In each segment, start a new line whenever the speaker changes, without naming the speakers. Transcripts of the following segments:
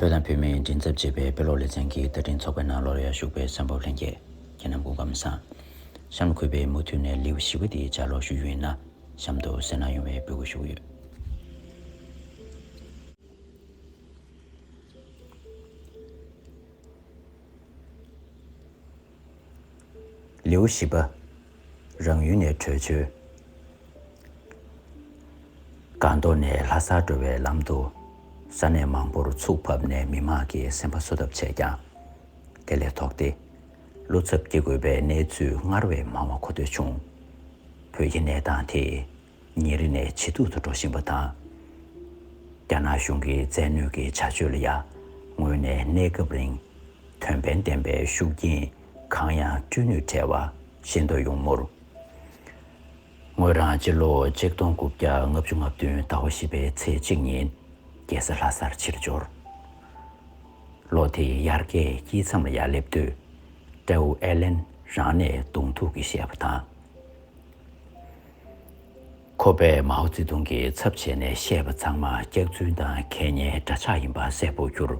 བོད་དང་བོད་མིའི་མགྲིན་ཚབ་ཅེས་པའི་དཔེ་ཀློག་ལེ་ཚན་གྱི་བསྟར་འཕྲིན་ཚོགས་པའི་ནང་ལོར་ཡར་ཞུགས་པའི་བསམ་ཕོབ་ལྷན་རྒྱས་ཁྱེད་རྣམས་གོ་སྐབས་མི་བཟང། གཤམ་ལ་འཁོད་པའི་མུ་མཐུད་ནས་ལེའུ་བཞི་བ་འདི་བསྐྱར་ཀློག་ཞུ་རྒྱུ་ཡིན་ན་གཤམ་དུ་གསལ་སྣང་ཡོང་བའི་འབོད་སྐུལ་ཞུ་གི་ཡོད། ལེའུ་བཞི་པ། རང་ཡུལ་ནས་བྲོས་བྱོལ། སྒང་ཏོག་ནས་ལྷ་སར་འགྲོ་བའི་ལམ་དུ། ས་གནས་མང་པོར་ཚུགས་ཕབ་ནས་མི་མང་གི་སེམས་པ་གསོ་ཐབས་བྱས་ཀྱང། དེ་ལས་ལྡོག་སྟེ། བློ་འཚབ་སྐྱེ་དགོས་པའི་གནས་ཚུལ་སྔར་བས་མང་བ་གོ་ཐོས་བྱུང། བོད་ཀྱི་གནས་སྟངས་དེ། ཉིན་རེ་ནས་ཇེ་སྡུག་ཏུ་འགྲོ་བཞིན་པ་དང། རྒྱ་ནག་གཞུང་གི་རྩལ་ནུས་ཀྱི་བྱ་སྤྱོད་ལ་ཡར་སྔོན་ནས་གནས་སྐབས་རིང་དོན་ཕན་ལྡན་པའི་ཤུགས་རྐྱེན་གང་ཡང་སྤྲོད་ནུས་བྲལ་བ་ཤེས་འདོད་ཡོང་མུར། ངོས་རང་སྤྱི་ལོ་གཅིག་སྟོང་དགུ་བརྒྱ་ལྔ་བཅུ་ལྔ་བདུན་ཟླ་བ་བཞི་པའི་ཚེས་གཅིག་ཉིན་རྒྱལ་ས་ལྷ་སར་ཕྱིར་འབྱོར། ལོ་དེའི་དབྱར་ཁའི་དཀྱིལ་མཚམས་ལ་ཡར་སླེབས་དུས། སྤྲེའུ་ཨེ་ལེན་རང་ནས་གདོང་ཐུག་གིས་བཤད་པ་དང། ཁོ་པས་མའོ་ཙེ་ཏུང་གི་ཚབ་བྱས་ནས་བཤད་པ་ཚང་མ་སྐྱག་རྫུན་དང་ཁེ་ཉེན་འདྲ་ཆགས་ཡིན་པ་གསལ་པོ་གྱུར།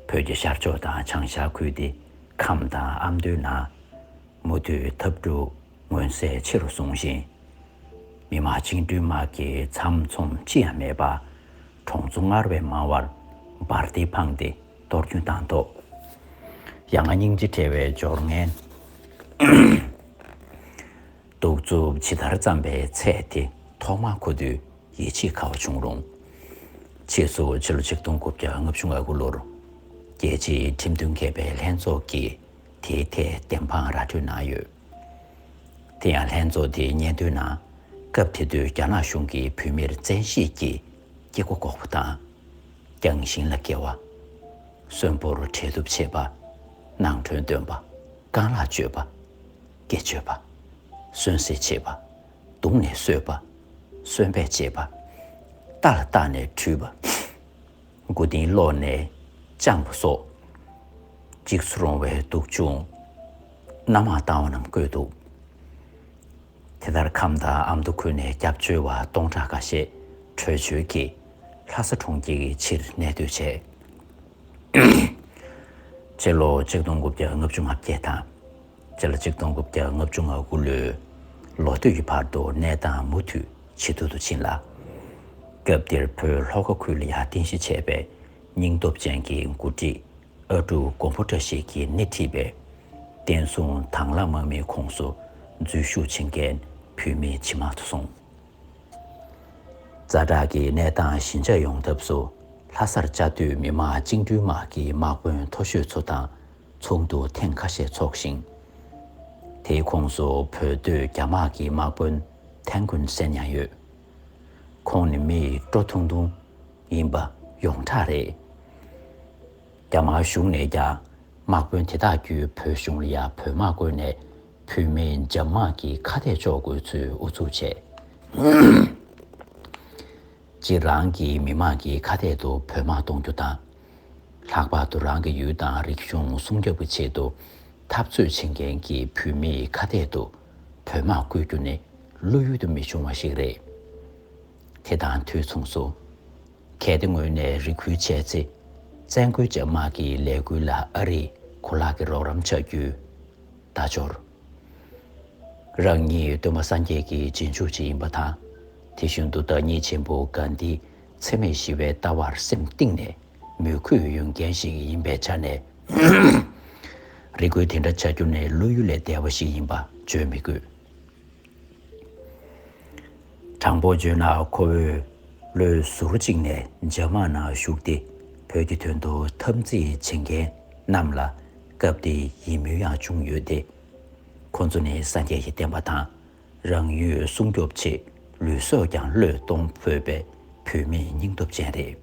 བོད་ཀྱི་ཤར་ཕྱོགས་དང་བྱང་ཤར་ཁུལ་དེ་ཁམས་དང་ཨ་མདོའི་ནང། མུ་མཐུད་འཐབ་འཁྲུག་མངོན་གསལ་ཆེ་རུ་སོང་ཞིང། མི་དམངས་བཅིངས་འགྲོལ་དམག་གི་ཚམ་ཚོམ་ཅི་ཡང་མེད་པར་གྲོང་ཚོ་སྔར་བས་མང་བར་འབར་མདེལ་འཕངས་ཏེ་གཏོར་སྐྱོན་བཏང་ཐོག་ཡ་ང་སྙིང་རྗེ་བྲལ་བའི་སྦྱོར་ངན། གདུག་རྩུབ་ཇི་ལྟར་བརྩམས་པའི་ཚད་དེ་ཐོག་མ་མཁོ་དུས་ཡིད་ཆེས་ཁག་པོ་བྱུང་རུང། ཕྱིས་སུ་ཕྱི་ལོ་ཆིག་སྟོང་དགུ་བརྒྱ་ལྔ་བཅུ་ང་དགུ་ལོར་རྒྱལ་སྤྱིའི་ཁྲིམས་མཐུན་མཁས་པའི་ལྷན་ཚོགས་ཀྱིས་དེའི་ཐད་བདེན་དཔང་ར་སྤྲོད་གནང་ཡོད། དེ་ཡང་ལྷན་ཚོགས་དེའི་སྙན་ཐོའི་ནང་སྐབས་དེ་དུས་རྒྱ་ནག་གཞུང་གིས་བོད་མིར་བཙན་ཤེད་ཀྱིས་སྐྱེ་སྒོ་འགོག་པ་དང། རྒྱང་ཞིང་ལ་བཀལ་བ། གསོན་པོར་འཕྲལ་གཏུབ་བྱེད་པ། ནང་ཁྲོལ་འདོན་པ། རྐང་ལག་གཅོད་པ། སྐད་བརྗོད་པ། གསོན་བསྲེག་བྱེད་པ། བརྡུངས་ནས་གསོད་པ། གསོན་སྦས་བྱེད་པ། རྟ་ལ་བཏགས་ནས་འཁྲུད་པ། མགོ་རྟིང་སློག་ནས་བཅངས་པ་སོགས། འཇིགས་སུ་རུང་བའི་སྡུག་སྦྱོང། རྣམ་མང་བཏང་བ་རྣམས་བཀོད་འདུག། དེ་ལྟར་ཁམས་དང་ཨ་མདོ་ཁུལ་ནས་སྐྱབས་བཅོལ་བ་སྟོང་ཕྲག་ཁ་ཤས་བྲོས་བྱོལ་གྱིས་ལྷ་ས་གྲོང་ཁྱེར་གྱི་ཕྱིར་གནས་སྡོད་བྱས། སྤྱི་ལོ་ཆིག་སྟོང་དགུ་བརྒྱ་ལྔ་བཅུ་ང་བརྒྱད་དང། ཚེ་ལ་གཅིག་སྟོང་དགུ་བརྒྱ་ལྔ་བཅུ་ང་དགུ་ལོའི་ལོ་སྟོད་ཀྱི་བར་དུ་གནས་སྟངས་མུ་མཐུད་ཇེ་སྡུག་ཏུ་ཕྱིན་ལ། སྐབས་དེར་བོད་ལྷོ་ཁ་ཁུལ་ལ་ཡར་བརྟེན་གཞི་བྱས་པའི་སྙིང་སྟོབས་ཅན་གྱི་མགོ་ཁྲིད་ཨ་ཀྲུག་མགོན་པོ་བཀྲ་ཤིས་ཀྱིས་སྣེ་ཁྲིད་པའི་བསྟན་སྲུང་དྭང་བླངས་དམག་མིའི་ཁོངས་སུ་འཛུལ་ཞུགས་བྱེད་མཁན་བོད་མི་ཇེ་མང་དུ་སོང། རྩ་དྲག་གི་གནས་སྟངས་ཞི་འཇགས་ཡོང་ཐབས་སུ་ལྷ་སར་བཅའ་སྡོད་མི་དམངས་བཅིངས་འགྲོལ་དམག་གི་དམག་དཔོན་མཐོ་ཤོས་ཚོ་དང་ཚོགས་འདུ་ཐེངས་ཁ་ཤས་འཚོགས་ཤིང། དེའི་ཁོངས་སུ་བོད་སྡོད་རྒྱ་དམག་གི་དམག་དཔོན་ཐན་ཀོན་སན་ཡང་ཡོད། ཁོང་ནི་མི་ཡི་སྤྲོ་ཐུང་ཐུང་ཡིན་པ་ཡོངས་གྲགས་རེད། རྒྱ་དམར་གཞུང་ནས་ཀྱང་དམག་དཔོན་དེ་དག་བརྒྱུད་བོད་གཞུང་ལ་ཡང་བོད་དམག་བཀོལ་ནས་བོད་མི་འཇབ་དམག་གི་ཁ་གཏད་གཅོག་དགོས་ཚུལ་ཨུ་ཚུགས་བྱས། གཅིག་རང་གི་མི་དམངས་ཀྱི་ཁ་གཏད་དུ་བོད་དམག་གཏོང་རྒྱུ་དང། ལྷག་པར་དུ་རང་གི་ཡུལ་དང་རིག་གཞུང་སྲུང་སྐྱོབ་ཀྱི་ཆེད་དུ་འཐབ་རྩོད་བྱེད་མཁན་གྱི་བོད་མིའི་ཁ་གཏད་དུ་བོད་དམག་བཀོལ་རྒྱུ་ནི་བློ་ཡུལ་དུ་མི་ཤོང་བ་ཞིག་རེད། དེ་དང་དུས་མཚུངས་སུ། གལ་ཏེ་ངོས་ནས་རེ་སྐུལ་བྱས་ཚེ། བཙན་རྒོལ་བྱེད་དམག་གི་ལས་འགུལ་ལ་ཨ་རིས་གོ་ལག་གི་རོགས་རམ་བྱ་རྒྱུའི་བརྡ་འབྱོར། རང་ཉིད་གདོད་མ་སངས་རྒྱས་ཀྱི་རྗེས་འཇུག་ཅིག་ཡིན་པ་དང། དེ་བཞིན་དུ་བདག་ཉིད་ཆེན་པོ་གཱན་དྷི་འཚེ་མེད་ཞི་བའི་ལྟ་བར་སེམས་གཏིང་ནས་མོས་གུས་ཡོད་མཁན་ཞིག་ཡིན་པའི་ཆ་ནས། རེ་སྐུལ་དེ་འདྲ་བྱ་རྒྱུ་ནི་བློ་ཡུལ་ལས་འདས་པ་ཞིག་ཡིན་པ་བརྗོད་མི་དགོས། དྲང་པོ་བརྗོད་ན་ཁོ་བོས་བློའི་ཟུར་གཅིག་ནས་རྒྱ་དམག་ནང་ཞུགས་ཏེ་བོད་ཀྱི་དོན་དུ་འཐབ་འཛིང་བྱེད་མཁན་རྣམས་ལ་སྐབས་དེའི་ཡིད་སྨོན་ཡང་བྱུང་ཡོད་དེ། ཁོ་ཚོ་ནི་སངས་རྒྱས་ཀྱི་བསྟན་པ་དང་རང་ཡུལ་སྲུང་སྐྱོབ་ཆེད་ལུས་སྲོག་ཀྱང་བློས་གཏོང་ཕོད་པའི་བོད་མི་སྙིང་སྟོབས་ཅན་རེད།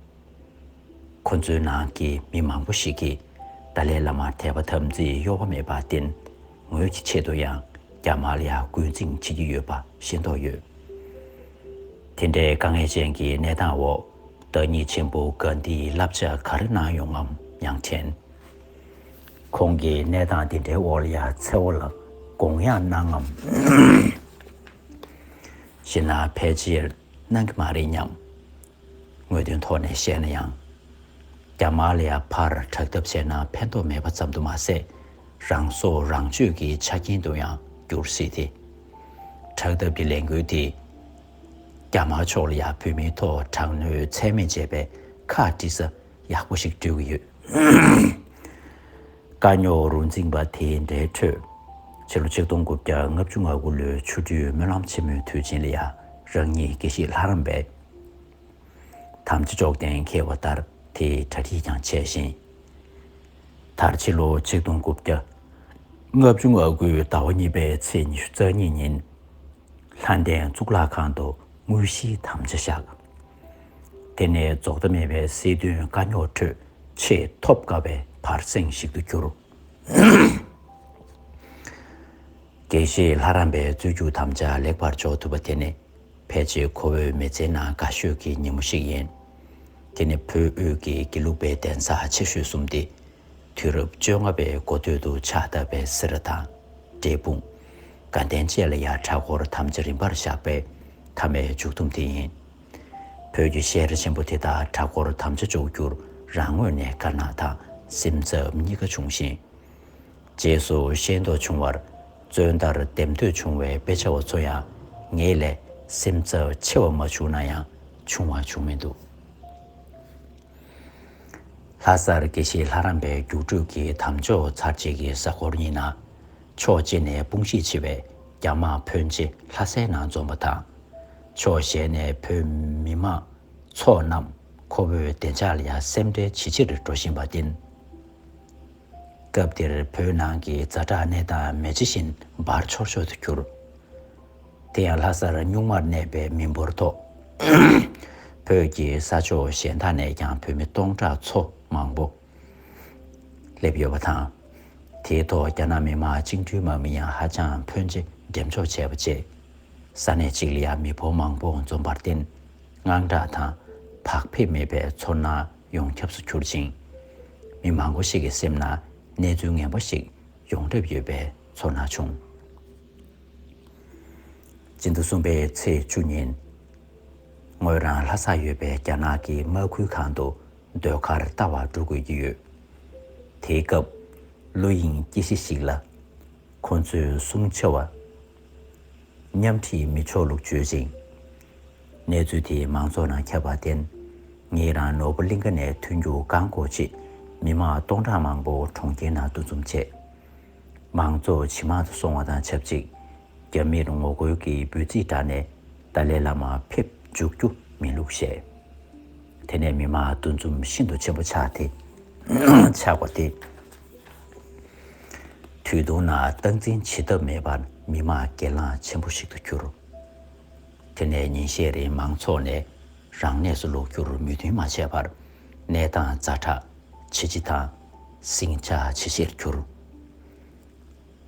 ཁོ་ཚོའི་ནང་གི་མི་མང་པོ་ཞིག་གིས་ཏཱ་ལའི་བླ་མར་དད་པ་དམ་ཚིག་གཡོ་བ་མེད་པར་བརྟེན། ངོས་ཀྱི་ཆེད་དུ་ཡང་རྒྱ་དམར་ལ་རྒོལ་འཛིང་བྱེད་ཀྱི་ཡོད་པ་ཤེས་མདོག་ཡོད། དེ་འདྲའི་དཀའ་ངལ་ཅན་གྱི་གནས་སྟངས་འོག་བདག་ཉིད་ཆེན་པོ་གཱ་འདིའི་བསླབ་བྱ་ག་རེ་གནང་ཡོང་ངམ་ཡང་དྲན། ཁོང་གིས་གནས་སྟངས་དེ་འདྲའི་འོག་ལ་ཡང་མཚེ་བོ་ལ་དགོངས་ཡངས་གནང་ངམ་ཞེ་ན་ཕལ་ཆེར་གནང་གི་མ་རེད་སྙམ། དངོས་དོན་ཐོག་ནས་བཤད་ན་ཡང། རྒྱ་དམར་ལ་ཡར་འཕར་དྲག་ཐབས་བྱས་ན་ཕན་ཐོགས་མེད་པ་ཙམ་དུ་མ་ཟད། རང་བཟོ་རང་བཅོས་ཀྱི་ཆ་རྐྱེན་དུ་ཡང་འགྱུར་སྲིད་དེ། དྲག་ཐབས་ཀྱི་ལས་འགུལ་དེས། རྒྱ་དམར་ཕྱོགས་ལ་ཡང་བོད་མིའི་ཐོག་དྲག་གནོན་ཚད་མེད་བྱས་པའི་ཁ་དཀྲི་ས་ཡག་པོ་ཞིག་སྤྲོད་ཀྱི་ཡོད། དཀའ་རྙོག་རུ་འཛིངས་པ་དེ་འདྲའི་ཁྲོད། ཕྱི་ལོ་ཆིག་སྟོང་དགུ་བརྒྱ་ལྔ་བཅུ་ང་དགུ་ལོའི་ཆུ་སྦྲུལ་སྨོན་ལམ་ཆེན་མོའི་དུས་ཆེན་ལ་ཡང་རང་ཉིད་དགེ་བཤེས་ལྷ་རམས་པའི་དམ་ཚིག་ཅོག་ལྡན་མཁས་པ་ལྟར་དེའི་གྲ་སྒྲིག་ཀྱང་བྱས་ཤིང། མཐར་ཕྱི་ལོ་ཆིག་སྟོང་དགུ་བརྒྱ་ལྔ་བཅུ་ང་དགུའི་ཟླ་བ་གཉིས་པའི་ཚེས་ཉི་ཤུ་རྩ་གཉིས་ཉིན། ལྷ་ལྡན་གཙུག་ལག་ཁང་དུ་དངོས་གཞིའི་དམ་བཅའ་བཞག། དེ་ནས་རྫོགས་མཐའ་མེད་པའི་སྲིད་དོན་དཀའ་རྙོག་ཁྲོད་ཆེས་ཐོབ་དཀའ་བའི་བར་གསེང་ཞིག་ཏུ་གྱུར། དགེ་བཤེས་ལྷ་རམས་པའི་རྩོད་རྒྱུགས་དམ་བཅའ་ལེགས་པར་འཇོག་ཐུབ་པ་དེ་ནི། ཕལ་ཆེར་ཁོ་བོའི་མི་ཚེའི་ནང་དགའ་ཤོས་ཀྱི་ཉིན་མོ་ཞིག་ཡིན། དེ་ནི་བོད་དབུས་ཀྱི་དགེ་ལུགས་པའི་གདན་ས་ཆེ་ཤོས་གསུམ་སྟེ། དུས་རབས་བཅོ་ལྔ་པའི་མགོ་སྟོད་དུ་ཕྱག་བཏབ་པའི་སེ་ར་དང། འབྲས་སྤུངས། དགའ་ལྡན་བཅས་ལ་ཡང་གྲྭ་སྐོར་དམ་བཅའ་རིམ་པར་བཞག་པའི་མཐའ་མའི་མཇུག་སྡོམ་དེ་ཡིན། བོད་ཀྱི་ཤེས་ར་ཆེན་པོ་དེ་དག་གྲྭ་སྐོར་དམ་བཅའ་འཇོག་རྒྱུར་རང་ངོས་ནས་དཀར་ནག་དང་སེམས་འཚབ་གཉིས་ཀ་བྱུང་ཞིང། རྗེས་སུ་ཤེས་འདོད་བྱུང་བར་བརྩོན་ལྟར་འདེམས་འདོད་བྱུང་བའི་དཔེ་ཆ་བ་ཚོ་ཡང་ངེད་ལས་སེམས་འཚབ་ཆེ་བ་མ་བྱུང་ན་ཡང་བྱུང་བ་བྱུང་མི་འདུག། ལྷ་སར་དགེ་བཤེས་ལྷ་རམས་པའི་རྒྱུགས་སྤྲོད་ཀྱི་དམ་འཇོག་ཚར་རྗེས་ཀྱི་གཟའ་འཁོར་གཉིས་ནང་ཕྱོགས་གཅིག་ནས་དཔུང་ཤེད་ཆེ་བའི་རྒྱ་དམག་ཕོན་ཆེ་ལྷ་སའི་ནང་འཛོམས་པ་དང། ཕྱོགས་གཞན་ནས་བོད་མི་དམངས་ཚོགས་རྣམས་ཁོ་བོའི་བདེ་འཇགས་ལ་ཡང་སེམས་ཁྲལ་ཇེ་ཆེར་འགྲོ་བཞིན་པ་བསྟན། སྐབས་དེར་བོད་ནང་གི་རྫ་བྲག་གནས་སྟངས་མེ་ལྕེ་བཞིན་འབར་འཆོར་འཆོར་དུ་གྱུར། དེ་ཡང་ལྷ་སར་གཉུག་མར་གནས་པའི་མི་འབོར་ཐོག་བོད་ཀྱི་ས་ཕྱོགས་གཞན་དག་ནས་ཀྱང་བོད་མི་སྟོང་ཕྲག་ཚོ་མང་པོ་སླེབས་ཡོད་པ་དང། དེའི་ཐོག་རྒྱ་ནག་མི་དམངས་བཅིངས་གྲོལ་དམག་མི་ཡང་ཧ་ཅང་ཕོན་ཆེ་འགྲེམས་འཇོག་བྱས་པ་བཅས། ས་གནས་གཅིག་ལ་ཡང་མི་འབོར་མང་པོ་འཛོམས་པར་བརྟེན་དངངས་སྐྲག་དང་བག་ཕེབས་མེད་པའི་ཚོར་སྣང་ཡོངས་ཁྱབས་སུ་གྱུར་ཅིང། མི་མང་པོ་ཞིག་གི་སེམས་ན་གནས་ཚུལ་ངན་པ་ཞིག་ཡོང་གྲབས་ཡོད་པའི་ཚོར་སྣང་བྱུང། སྤྱི་ཟླ་གསུམ་པའི་ཚེས་བཅུ་ཉིན། ངོས་རང་ལྷ་སར་ཡོད་པའི་རྒྱ་ནག་གི་དམག་ཁུལ་ཁང་དུ་ཟློས་གར་ལྟ་བར་འགྲོ་དགོས་ཀྱི་ཡོད། དེའི་སྐབས། ཀླུ་དབྱིངས་སྐྱེས་གཞི་ཞིག་ལ། ཁོ་ཚོས་གསུང་ཆེ་བ། མཉམ་འཁྲིད་མི་ཆོག་ལུགས་བརྗོད་ཅིང། གནས་ཚུལ་དེ་མང་ཚོགས་ནང་ཁྱབ་པར་བརྟེན། ངེད་རང་ནོར་བུ་གླིང་ག་ནས་ཐོན་རྒྱུ་བཀག་འགོག་ཆེད་མི་མང་སྟོང་ཕྲག་མང་པོ་གྲོང་ཁྱེར་ནང་འདུ་འཛོམས་བྱས། མང་ཚོགས་ཇེ་མང་དུ་སོང་བ་དང་ཆབས་ཅིག་རྒྱ་མིར་ངོ་རྒོལ་གྱི་འབོད་ཚིག་བསྒྲགས་ནས་ཏཱ་ལའི་བླ་མ་ཕེབས་འཇུག་རྒྱུ་མིན་ལུགས་བཤད། དེ་ནས་མི་མང་འདུ་འཛོམས་ཤིན་ཏུ་ཆེན་པོ་ཆགས་ཏེ། ཆགས་པ་དེ་དུས་ཐུང་ན་སྟངས་འཛིན་བྱེད་ཐབས་མེད་པར་མི་དམངས་གྱེན་ལངས་ཆེན་པོ་ཞིག་ཏུ་གྱུར། དེ་ནས་ཉིན་ཤས་རིང་མང་ཚོགས་ནས་རང་གནས་སུ་ལོག་རྒྱུར་མོས་མཐུན་མ་བྱས་པར་གནས་སྟངས་རྩ་དྲག་ཇེ་ལྕི་དང་ཟིང་ཆ་ཇེ་ཆེར་གྱུར།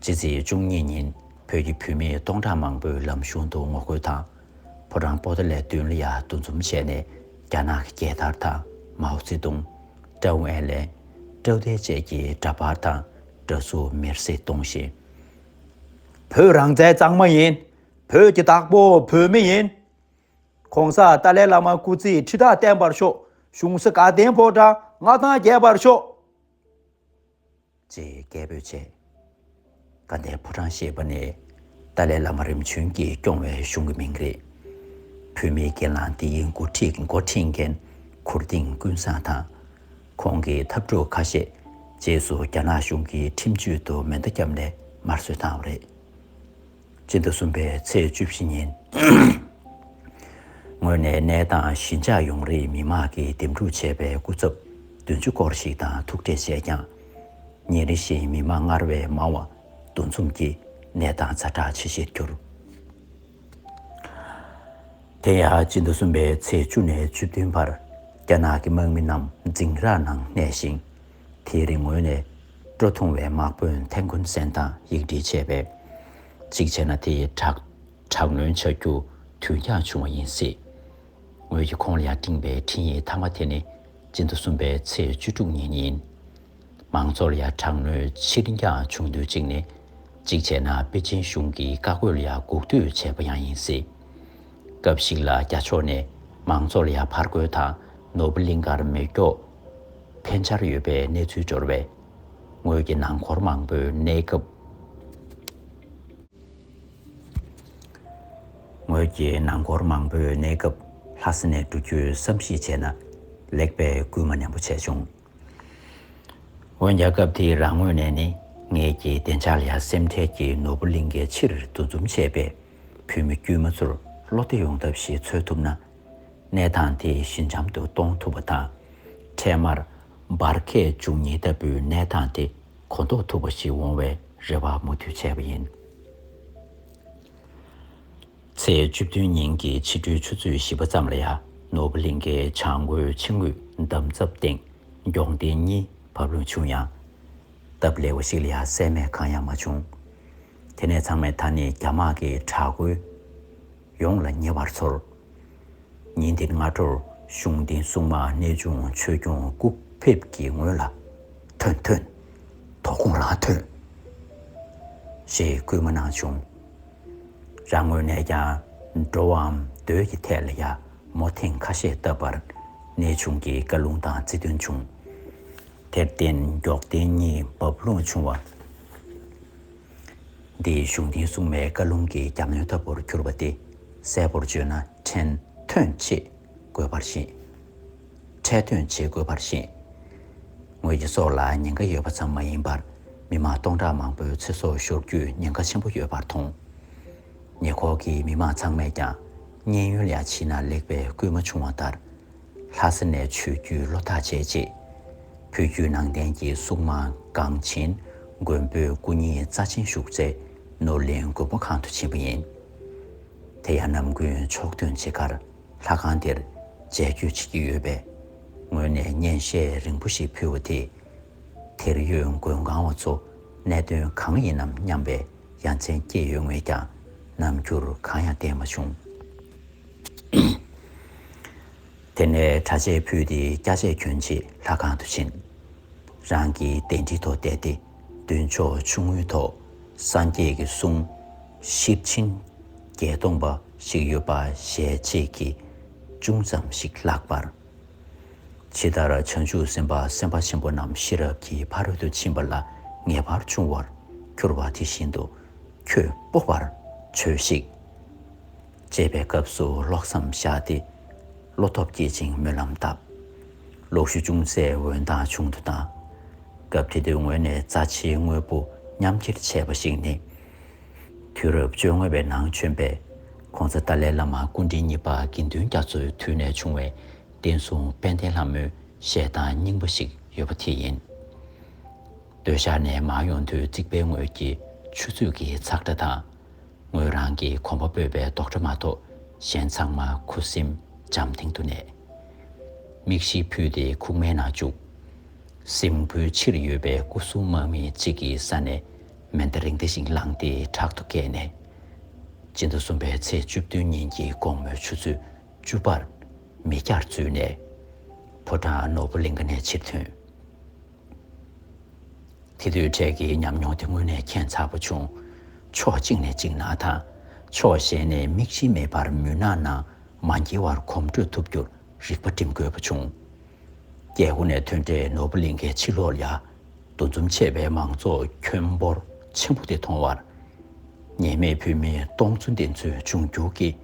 ཕྱི་ཚེས་བཅུ་གཉིས་ཉིན་བོད་ཀྱི་བུད་མེད་སྟོང་ཕྲག་མང་པོས་ལམ་གཞུང་དུ་ངོ་རྒོལ་དང། ཕོ་བྲང་པོ་ཏཱ་ལའི་མདུན་ལ་ཡར་འདུ་འཛོམས་བྱས་ནས་རྒྱ་ནག་གི་རྒྱལ་དར་དང་མའོ་ཙེ་ཏུང། ཀྲའུ་ཨེན་ལེན། ཀྲའུ་ཏའེ་བཅས་ཀྱི་འདྲ་པར་དང་འདྲ་གཟུགས་མེར་བསྲེགས་གཏོང་བཞིན། བོད་རང་བཙན་གཙང་མ་ཡིན། བོད་ཀྱི་བདག་པོ་བོད་མི་ཡིན། ྋགོང་ས་ཏཱ་ལའི་བླ་མ་སྐུ་ཚེ་ཁྲི་ཕྲག་བརྟན་པར་ཤོག་གཞུང་སྲིད་དགའ་ལྡན་ཕོ་བྲང་མངའ་ཐང་རྒྱས་པར་ཤོག། ཅེས་སྐད་འབོད་བྱས། དགའ་ལྡན་ཕོ་བྲང་ཞེས་པ་ནི་ཏཱ་ལའི་བླ་མ་རིམ་བྱོན་གྱིས་སྐྱོང་བའི་གཞུང་གི་མིང་རེད། བོད་མིའི་སྒེར་ལངས་འདིའི་མགོ་ཁྲིད་མགོ་འཁྲིད་མཁན་གུར་ལྡིང་ཀུན་བཟང་དང། ཁོང་གི་འཐབ་གྲོགས་ཁ་ཤས་རྗེས་སུ་རྒྱ་ནག་གཞུང་གི་ཁྲིམས་གཅོད་དུ་མེ་མདའ་བརྒྱབ་ནས་དམར་གསོད་བཏང་བ་རེད། སྤྱི་ཟླ་གསུམ་པའི་ཚེས་བཅུ་བཞི་ཉིན་ངོས་ནས་གནས་སྟངས་ཞི་འཇགས་ཡོང་རེའི་མི་མང་གིས་འདེམས་སྒྲུག་བྱས་པའི་སྐུ་ཚབ་བདུན་ཅུ་སྐོར་ཞིག་དང་ཐུག་འཕྲད་བྱས་ཀྱང། ཉིན་རེ་བཞིན་མི་མང་སྔར་བས་མང་བ་འདུ་འཛོམས་ཀྱིས་གནས་སྟངས་ཚ་དྲག་ཇེ་ཆེར་གྱུར། དེ་ཡང་སྤྱི་ཟླ་གསུམ་པའི་ཚེས་བཅུ་ནས་བཅུ་བདུན་བར་རྒྱ་ནག་གི་དམག་མི་རྣམས་འཛིང་རགས་ནང་གནས་ཤིང། དེའི་རིང་ངོས་ནས་སྤྲོ་ཐུང་བའི་དམག་དཔོན་ཐན་ཁུན་སན་དང་ཡིག་འབྲེལ་བྱས་པས། གཅིག་བྱས་ན་དེ་ཡིས་དྲག་དྲག་གནོན་བྱ་རྒྱུ་དུས་འགྱངས་བྱུང་བ་ཡིན་སྲིད། ངོས་ཀྱིས་ཁོང་ལ་ཡང་སྤྲིངས་པའི་འཕྲིན་ཡིག་མཐའ་མ་དེ་ནི་སྤྱི་ཟླ་གསུམ་པའི་ཚེས་བཅུ་དྲུག་ཉིན་ཡིན། མང་ཚོགས་ལ་ཡང་དྲག་གནོན་ཕྱིར་འགྱངས་བྱུང་དུས་གཅིག་ནི། གཅིག་བྱས་ན་པེ་ཅིན་གཞུང་གིས་བཀའ་བཀོད་ལ་ཡང་སྒུག་སྡོད་བྱས་པ་ཡང་ཡིན་སྲིད། སྐབས་ཤིག་ལ་རྒྱ་ཕྱོགས་ནས་མང་ཚོགས་ལ་ཡང་ཕར་རྒོལ་དང་ནོར་བུ་གླིང་ཁར་མེ་སྒྱོགས། ཐན་ཆར་ཡོད་པའི་གནས་ཚུལ་འབྱོར་བས། ངོས་ཀྱི་ནང་འཁོར་མང་པོའི་གནས་སྐབས། ངོས་ཀྱི་ནང་འཁོར་མང་པོའི་གནས་སྐབས་ལྷ་ས་ནས་འགྲོ་རྒྱུའི་བསམ་གཞིག་བྱས་ན་ལེགས་པས་སྐུལ་མ་ནན་པོ་བྱས་བྱུང། འོན་ཀྱང་སྐབས་དེའི་རང་ངོས་ནས་ནི་ངེད་ཀྱི་བདེ་འཇགས་ལ་སེམས་ཁྲལ་གྱིས་ནོར་བུ་གླིང་གའི་ཕྱིར་འདུ་འཛོམས་བྱས་པས་བོད་མི་དཀྱུས་མ་ཚོར་བློ་བདེ་ཡོང་ཐབས་ཤིག་འཚོལ་ཐུབ་ན་ནད་དང་དེ་བཞིན་འཇམ་དུ་གཏོང་ཐུབ་པ་དང། འཕྲལ་མར། འབར་གས་བཅུ་གཉིས་ལྟ་བུའི་ནད་དང་དེ་གོ་ཟློག་ཐུབ་པ་ཞིག་འོང་བའི་རེ་བ་མུ་མཐུད་བྱས་པ་ཡིན། ཚེས་བཅུ་བདུན་ཉིན་གྱི་ཕྱི་དྲོའི་ཆུ་ཚོད་བཞི་པ་ཙམ་ལ་ཡ་ནོ་བྷི་ལིང་གའི་བྱང་ངོས་ཕྱི་ངོས་འདམ་རྫབ་སྟེང་མགྱོགས་མདེལ་གཉིས་བབས་ལུང་བྱུང་ཡང། སྟབས་ལེགས་པ་ཞིག་ལ་ཡ་བསད་རྨས་གང་ཡང་མ་བྱུང། དེ་ནས་ཚང་མས་ད་ནི་རྒྱ་དམག་གི་དྲག་རྒོལ། ཡོངས་ལ་ཉེ་བར་འཚོལ། ཉིན་དེར་སྔ་དྲོར་གཞུང་བསྟེན་སྲུང་མ་གནས་ཆུང་ཆོས་སྐྱོང་སྐུ་ཕེབས་ཀྱི་ངོས་ལ། ཐོན་ཐོན། དོ་དགོང་ལ་ཐོན། ཞེས་བསྐུལ་མ་གནང་བྱུང། རང་ངོས་ནས་ཀྱང་འགྲོ་བའམ་སྡོད་ཀྱི་ཐད་ལ་ཡང་མོ་ཐེངས་ཁ་ཤས་བཏབ་པར་གནས་ཆུང་གིས་བཀའ་ལུང་དང་རྩིས་སྟོན་བྱུང། དེར་བརྟེན་མགྱོགས་བསྟན་གཉིས་འབབ་ལོངས་བྱུང་བ། འདིས་གཞུང་འདིའི་སྲུང་མའི་བཀའ་ལུང་གི་གྱ་ནོན་ལྟ་བུར་གྱུར་པ་སྟེ་གསལ་པོར་བརྗོད་ན་ཕྲན་ཐོན་བྱེད་དགོས་པར་བཞེད། ཕྲད་ཐོན་བྱེད་དགོས་པར་བཞེད། ངོས་ཀྱི་སྲོག་ལ་ཉེན་ཁ་ཡོད་པ་ཙམ་མ་ཡིན་པར་མི་མང་སྟོང་ཕྲག་མང་པོའི་ཚེ་སྲོག་ཤོར་རྒྱུའི་ཉེན་ཁ་ཆེན་པོ་ཡོད་པར་མཐོང། ཉེ་འཁོར་གྱི་མི་མང་ཚང་མས་ཀྱང་མཉན་ཡོན་ལས་ཕྱིན་ན་ལེགས་པའི་སྐུལ་མ་བྱུང་བ་ལྟར། ལྷ་ས་ནས་ཆོས་བརྒྱུད་བློ་ཐག་བཅད་རྗེས། བོད་བརྒྱུད་ནང་བསྟན་གྱི་སྲུང་མ་གངས་ཅན་མགོན་པོའི་སྐུ་བརྙན་རྩ་ཆེན་བཞུགས་སའི་ནོར་གླིང་མགོན་པོ་ཁང་དུ་ཕྱིན་པ་ཡིན། དེ་ཡང་ནམ་རྒྱུན་ཕྱོགས་སྟོན་བྱེད་ཁར་ལྷ་ཁང་དེར་མཇལ་སྐྱོད་བྱེད་ཀྱི་ཡོད་པས། ངོས་ནས་སྙན་ཤལ་རིང་པོ་ཞིག་ཕུལ་བ་དེས། དེར་ཡོད་མགོན་ཁང་བ་ཚོ་གནད་དོན་གང་ཡིན་ནམ་སྙམ་པའི་ཡ་མཚན་སྐྱེས་ཡོད་ངེས་ཀྱང་ནམ་རྒྱུར་གང་ཡང་བསྟན་མ་བྱུང། དེ་ནས་གྲྭ་ཆས་ཕུད་དེ་སྐྱ་ཆས་གྱོན་ཆེད་ལྷ་ཁང་དུ་ཕྱིན། རང་གི་གདན་ཁྲི་ཐོག་བསྡད་དེ་མདུན་ཕྱོགས་ཆུང་ངུའི་ཐོག་སངས་རྒྱས་ཀྱི་གསུང། ཤེར་ཕྱིན། བརྒྱད་སྟོང་པ་ཞིག་ཡོད་པ་ཞལ་ཆད་ཀྱིས་ཅུང་ཙམ་ཞིག་བཀླགས་པར། ཇི་ལྟར་བྱང་ཆུབ་སེམས་དཔའ་སེམས་དཔའ་ཆེན་པོ་རྣམས་ཤེས་རབ་ཀྱི་ཕ་རོལ་ཏུ་ཕྱིན་པ་ལ་ངེས་པར་འབྱུང་བར་གྱུར་པ་དེ་བཞིན་དུ་ཁྱོད་སྤོབས་པར་བྱོས་ཤིག། བཅད་པའི་སྐབས་སུ་ཀློག་མཚམས་བཞག་སྟེ་བློ་སྟོབས་བསྐྱེད་ཅིང་སྨོན་ལམ་བཏབ། ཀློག་ཤུལ་ཅུང་ཟད་འོད་མདངས་ཆུང་དུ་བཏང། སྐབས་དེ་དུས་ངོས་ནས་རྩ་ཆེའི་དངོས་པོ་མཉམ་འཁྱེར་བྱས་པ་ཞིག་ནི། དུས་རབས་བཅོ་ལྔ་བའི་ནང་བྱོན་པའི ྋགོང་ས་ཏཱ་ལའི་བླ་མ་སྐུ་དྲིན་གཉིས་པ་དགེ་འདུན་རྒྱ་མཚོའི་དུས་ནས་བྱུང་བའི་བསྟན་སྲུང་དཔལ་ལྡན་ལྷ་མོའི་བཤད་སྟངས་རྙིང་པ་ཞིག་ཡོད་པ་དེ་ཡིན། སྟོད་ཤར་ནས་མར་ཡོང་དུས་རྩིག་པའི་ངོས་ཀྱི་ཆུ་ཚོད་ཀྱི་ཚགས་སྒྲ་དང། ངོས་རང་གིས་གོམ་པ་སྤོས་པའི་རྡོག་སྒྲ་མ་གཏོགས་གཞན་ཚང་མ་ཁུ་སིམ་འཇམ་སྟེང་དུ་གནས། མིག་བཞི་ཕུད་དེ་ཁུག་མའི་ནང་བཅུག། སྲིན་པོའི་ཕྱིར་ཡོད་པའི་སྐུ་གསུང་དམག་མི་གཅིག་གི་ས་ནས་མེ་མདའ་རིང་བདེ་ཞིང་བསླངས་ཏེ་དྲག་ཏུ་བཀལ་ནས། སྤྱི་ཟླ་གསུམ་པའི་ཚེས་བཅུ་བདུན་ཉིན་གྱི་དགོང་མོའི་ཆུ་ཚོད་བཅུ་པར་མི་བརྒྱར་འཛུལ་ནས། ཕོ་བྲང་ནོར་བུ་གླིང་ག་ནས་ཕྱིར་ཐོན། དེ་དུས་འཕྲལ་གྱི་ཉམས་མྱོང་དེ་དངོས་གནས་མཁྱེན་ཚ་པོ་བྱུང། ཕྱོགས་གཅིག་ནས་གཅིག་ན་དང། ཕྱོགས་གཞན་ནས་མིག་མཆི་མེད་པར་མུན་ནག་ནང་མ་འགྱེལ་བར་གོམ་བགྲོད་ཐུབ་རྒྱུར་རིག་པ་སྒྲིམ་དགོས་པ་བྱུང། རྒྱལ་སྒོ་ནས་ཐོན་འཕྲལ་ནོར་བུ་གླིང་ཁའི་ཕྱི་ལོགས་ལ། འདུ་འཛོམས་ཆེ་བའི་མང་ཚོགས་ཁྱོན་འབོར་ཆེན་པོ་དེ་མཐོང་བར། ཉེས་མེད་བོད་མི་སྟོང་ཚོ་འདི་ཚོས་འབྱུང་འགྱུར་གྱི།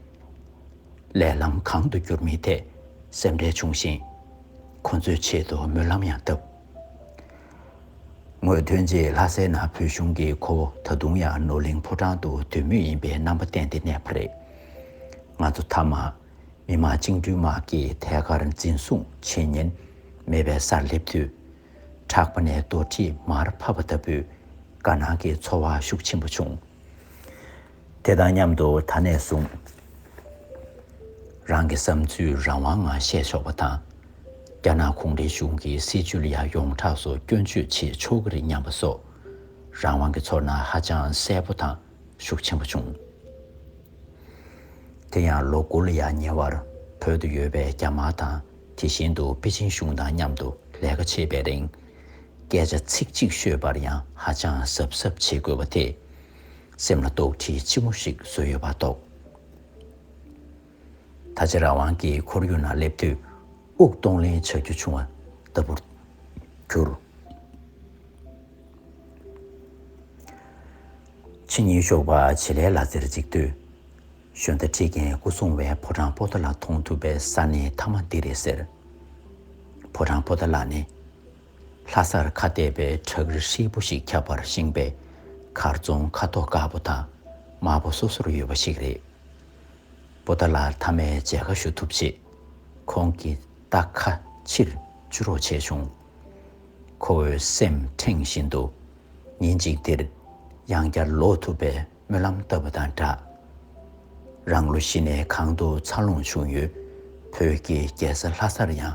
ལས་ལམ་གང་དུ་བསྒྱུར་མིན་ཐད་སེམས་ཁྲལ་བྱུང་ཞིང། ཁོ་ཚོའི་ཆེད་དུ་སྨོན་ལམ་ཡང་བཏབ། ངོས་ཐོན་རྗེས་ལྷ་སའི་ནང་བོད་གཞུང་གིས་ཁོ་བོ་ད་དུང་ཡང་ནོར་གླིང་ཕོ་བྲང་དུ་སྡོད་མུས་ཡིན་པའི་རྣམ་པ་བསྟན་ཏེ་གནས་པ་རེད། ང་ཚོ་མཐའ་མ་མི་དམངས་བཅིངས་འགྲོལ་དམག་གིས་ཐད་ཀར་འཛིན་བཟུང་བྱེད་ཉེན་མེད་པའི་སར་སླེབས་དུས། ཕྲག་པ་ནས་རྡོ་དྲིས་མར་ཕབ་པ་ལྟ་བུའི་དགའ་སྣང་གི་ཚོར་བ་ཤུགས་ཆེན་པོ་བྱུང། དེ་དང་མཉམ་དུ་ད་ནས་བཟུང། རང་གི་བསམ་ཚུལ་རང་དབང་ངང་བཤད་ཆོག་པ་དང། རྒྱ་ནག་གུང་ཁྲན་གཞུང་གི་སྲིད་བྱུས་ལ་ཡང་ཡོངས་གྲགས་སུ་སྐྱོན་བརྗོད་བྱེད་ཆོག་གི་རེད་སྙམ་པ་སོགས། རང་དབང་གི་ཚོར་སྣང་ཧ་ཅང་གསལ་པོ་དང་ཤུགས་ཆེན་པོ་བྱུང། དེ་ཡང་ལོ་དགུ་ལ་ཡང་ཉེ་བར་བོད་དུ་ཡོད་པའི་རྒྱ་དམར་དང་དེ་བཞིན་དུ་པེ་ཅིན་གཞུང་དང་མཉམ་དུ་ལས་ཀ་བྱེད་པའི་རིང། སྐད་ཆ་ཚིག་གཅིག་ཤོད་པར་ཡང་ཧ་ཅང་གཟབ་གཟབ་བྱེད་དགོས་པ་དེ། སེམས་ལ་དོགས་འདྲི་ཆེན་མོ་ཞིག་བཟོས་ཡོད་པ་རྟོགས། ད་ཆ་རང་དབང་གི་ཁོར་ཡུག་ན་སླེབས་དུས་དབུགས་གཏོང་ལེན་བྱ་རྒྱུ་བྱུང་བ་ལྟ་བུར་གྱུར། ཕྱི་ཉིན་ཞོགས་པ་བྱེད་ལས་ལ་རྩེར་འཛེགས་དུས། ཞོན་རྟ་ཁྲིད་མཁན་སྐུ་སྲུང་བས་ཕོ་བྲང་པོ་ཏཱ་ལ་མཐོང་ཐུབ་པའི་ས་ནི་མཐའ་མ་འདི་རེད་ཟེར། ཕོ་བྲང་པོ་ཏཱ་ལ་ནི། ལྷ་སར་ཁ་བལྟས་པའི་བྲག་རི་ཧྲིལ་པོ་ཞིག་ཁྱབ་པར་བཞེངས་པའི་མཁར་རྫོང་ཁ་དོག་དཀར་པོ་དང་དམར་པོ་སོ་སོར་ཡོད་པ་ཞིག་རེད། པོ་ཏཱ་ལ་དྷ་མའི་མཇལ་ཁ་ཞུ་ཐུབ་རྗེས། ཁོང་གིས་རྟ་ཁ་ཕྱིར་བཅུ་རོགས་བྱས་བྱུང། ཁོ་བོའི་སེམས་ཁྲེང་བཞིན་དུ་ཉིན་གཅིག་འདིར་ཡང་བསྐྱར་ལོག་ཐུབ་པའི་སྨོན་ལམ་བཏབ་པ་དང་སྦྲགས། རང་ལོ་བཞི་ནས་གང་དུ་འཚར་ལོངས་བྱུང་ཡོད་བོད་ཀྱི་རྒྱལ་ས་ལྷ་སར་ཡང།